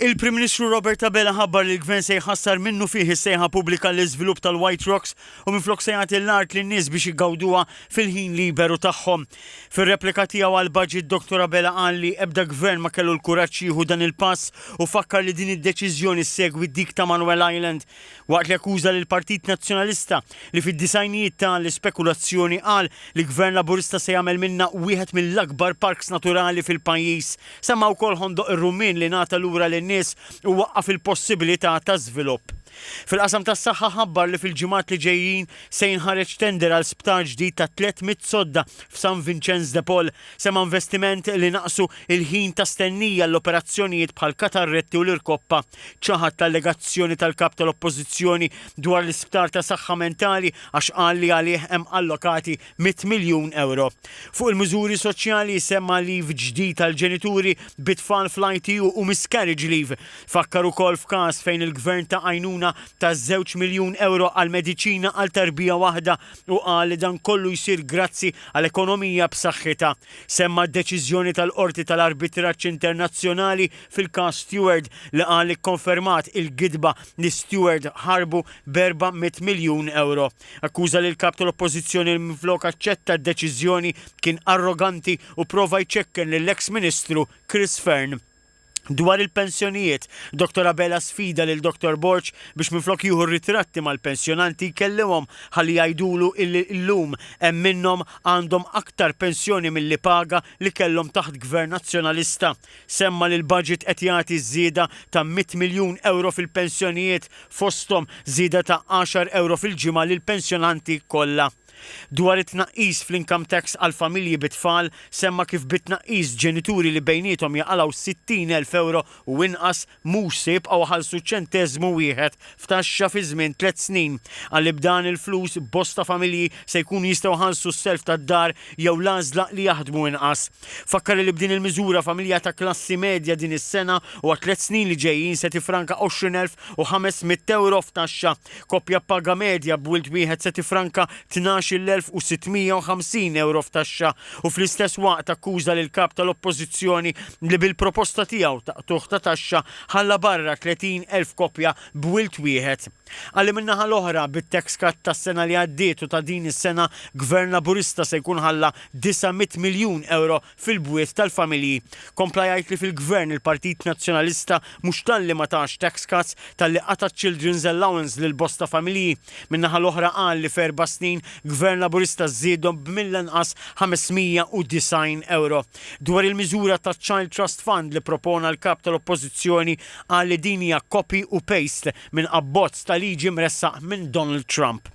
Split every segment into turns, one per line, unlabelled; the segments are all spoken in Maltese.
Il-Prim Ministru Robert Abela ħabbar li l-Gvern se jħassar minnufih is-sejħa pubblika għall-iżvilupp tal-White Rocks u minflok se jagħti l-art lin-nies biex iggawduha fil-ħin liberu tagħhom. Fir-replika tiegħu għall-Budget Dottor Abela qal li ebda Gvern ma kellu l-kuraġġ jieħu dan il-pass u fakkar li din id-deċiżjoni ssegwi dik ta' Manuel Island Waqt li akkuża lill-Partit Nazzjonalista li fid-disgħinijiet ta l-ispekulazzjoni qal li Gvern Laburista se jagħmel minnha wieħed mill-akbar parks naturali fil-pajjiż, semma wkoll Ħondoq ir-Rummien li ngħata lura lin-nies u waqqaf il-possibilità ta' żvilupp. Fil-qasam tas-saħħa ħabbar li fil-ġimgħat li ġejjin se jinħareġ tender għal sptar ġdid ta' tliet mitt sodda f'San Vinċenz de Paul. Semma investiment li naqsu l-ħin ta' stennija għall-operazzjonijiet bħall-katarretti u l-irkoppa. Ċaħad l-allegazzjoni tal-Kap tal-Oppożizzjoni dwar l-Isptar ta' Saħħa Mentali għax qal li għalih hemm allokati mitt miljun ewro. Fuq il-miżuri soċjali semma leave ġdid għall-ġenituri bi tfal fl-ITU u miscarriage leave. Fakkar ukoll f'każ fejn il-Gvern ta għajnuna ta' żewġ miljun ewro għal mediċina għal tarbija waħda u qal li dan kollu jsir grazzi għal ekonomija b'saħħitha. Semma d-deċiżjoni tal-Qorti tal-Arbitraġġ Internazzjonali fil-każ Steward li qal li kkonfermat il-gidba li Steward ħarbu b'erba' mitt miljun ewro. Akkuża li l-Kap tal-Oppożizzjoni li minflok aċċetta d-deċiżjoni kien arroganti u pprova jċekken lill-eks Ministru Chris Fearne. Dwar il-pensjonijiet, Dottor Abela sfida lil Dottor Borg biex minflok jieħu ritratti mal-pensjonanti jkellimhom ħalli jgħidulu illi llum hemm minnhom għandhom aktar pensjoni milli paga li kellhom taħt Gvern Nazzjonalista. Semma li l-budget qed jagħti żieda ta' mitt miljun ewro fil-pensjonijiet fosthom żieda ta' għaxar ewro fil-ġimgħa lill-pensjonanti kollha. Dwar it-tnaqqis fl-income tax għall-familji bi tfal, semma kif bit-tnaqqis ġenituri li bejniethom jaqalgħu 60 elf ewro u inqas mhux se jibqgħu iħallsu ċenteżmu wieħed f'taxxa fi żmien tliet snin. Qal li b'dan il-flus bosta familji se jkunu jistgħu jħallsu s-self tad-dar jew l-għażla li jaħdmu inqas. Fakkar li b'din il-miżura familja ta' klassi medja din is-sena u għat-tliet snin li ġejjin se tiffranka 20,500 ewro f'taxxa. Koppja b'paga medja b'wild wieħed se tiffranka 12,650 ewro f'taxxa u fl-istess waqt akkuża lill-Kap tal-Oppożizzjoni li bil-proposta tiegħu ta' qtugħ ta' taxxa ħalla barra 30,000 koppja b'wild wieħed. Qal li min-naħa l-oħra, bit-tax cut tas-sena li għaddiet u ta' din is-sena, Gvern Laburista se jkun ħalla 900 miljun ewro fil-bwiet tal-familji. Kompla jgħid li fil-Gvern il-Partit Nazzjonalista mhux talli ma tax tax cuts, talli qata' children's allowance lil bosta familji. Min-naħa l-oħra qal li f'erba' snin Gvern Laburista żiedhom b'mill-anqas 590 ewro. Dwar il-miżura taċ-Child Trust Fund li propona l-Kap tal-Oppożizzjoni qal li din hija copy u paste minn abbozz ta' liġi mressaq minn Donald Trump.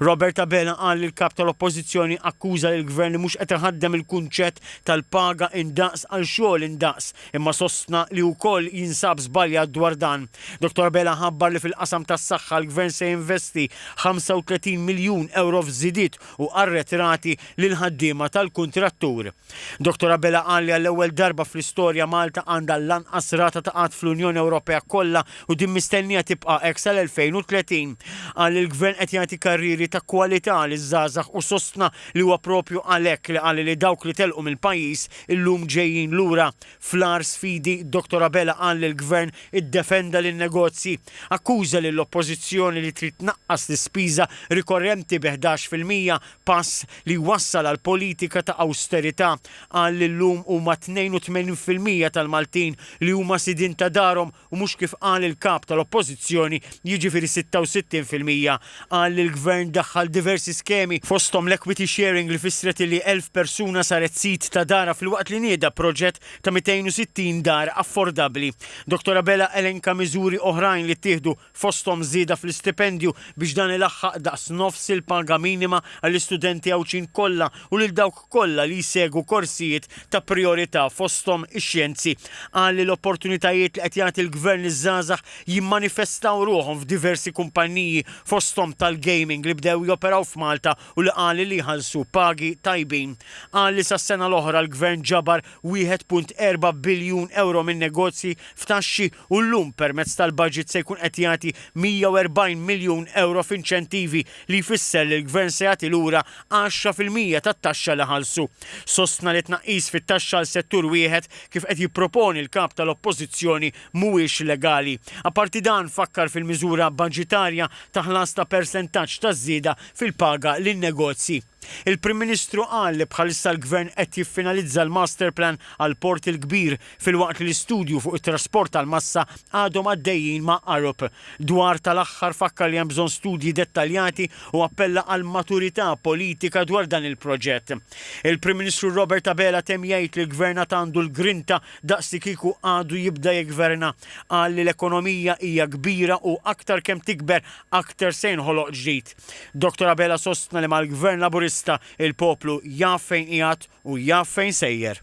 Robert Abela qal li l-Kap tal-Oppożizzjoni akkuża lill-Gvern li mhux qed iħaddem il-kunċett tal-paga indaqs għal xogħol indaqs, imma sostna li hu wkoll jinsab żbaljat dwar dan. Dottor Abela ħabbar li fil-qasam tas-saħħa l-Gvern se jinvesti 35 miljun ewro f'żidiet u arretrati lill-ħaddiema tal-kuntrattur. Dottor Abela qal li għall-ewwel darba fl-istorja Malta għandha l-anqas rata ta' qgħad fl-Unjoni Ewropea kollha u din mistennija tibqa' hekk sal-2030. Qal li l-Gvern qed jagħti karrieri ta' kwalità liż-żgħażagħ u sostna li huwa proprju għalhekk li qal li dawk li telqu mill-pajjiż illum ġejjin lura. Fl-agħar sfidi, Dottor Abela qal li l-Gvern iddefenda lin-negozji. Akkuża lill-Oppożizzjoni li trid tnaqqas l-ispiża rikorrenti bi ħdax fil-mija pass li jwassal għal politika ta' awsterità, qal li llum huma 82 fil-mija tal-Maltin li huma sidien ta' darhom u mhux kif qal il-Kap tal-Oppożizzjoni jiġifieri 66 fil-mija. Qal li l-Gvern daħħal diversi skemi, fosthom l-equity sharing li fissret li 1,000 persuna saret sid ta' darha filwaqt li nieda proġett ta' 260 dar affordabbli. Dottor Abela elenka miżuri oħrajn li ttieħdu fosthom żieda fl-istipendju biex dan ilaħħaq daqs nofs il-paga minima għall-istudenti Għawdxin kollha u lil dawk kollha li jsegwu korsijiet ta' prijorità fosthom ix-xjenzi. Qal li l-opportunitajiet li qed jagħti l-Gvern liż-żgħażagħ jimmanifestaw ruħhom f'diversi kumpanniji fosthom tal-gaming li bdew joperaw f'Malta u li qal li jħallsu pagi tajbin. Qal li sas-sena l-oħra l-Gvern ġabar 1.4 biljun ewro minn negozji, f'taxxi u llum permezz tal-baġit se jkun qed jagħti 140 miljun ewro f'inċentivi li jfisser li l-Gvern se jagħti lura għaxra fil-mija tat-taxxa li ħallsu. Sostna li tnaqqis fit-taxxa għal settur wieħed, kif qed jipproponi l-Kap tal-Oppożizzjoni, mhuwiex legali. Apparti dan, fakkar fil-miżura baġitarja ta' ħlas ta' persentaġġ taż-żieda fil-paga lin-negozji. Il-Prim Ministru qal li bħalissa l-Gvern qed jiffinalizza l-Masterplan għall-Port il-Kbir filwaqt li l-istudju fuq it-trasport tal-massa għadhom għaddejjin ma' Arup. Dwar tal-aħħar fakkar li hemm bżonn studji dettaljati u appella għall-maturità politika dwar dan il-proġett. Il-Prim Ministru Robert Abela temm jgħid li l-Gvern għad għandu l-grinta daqs li kieku għadu jibda jiggverna. Qal li l-ekonomija hija kbira u aktar kemm tikber aktar se jinħoloq ġdid. Dottor Abela sostna li mal-Gvern Laburista il-poplu jaf fejn qiegħed u jaf fejn sejjer.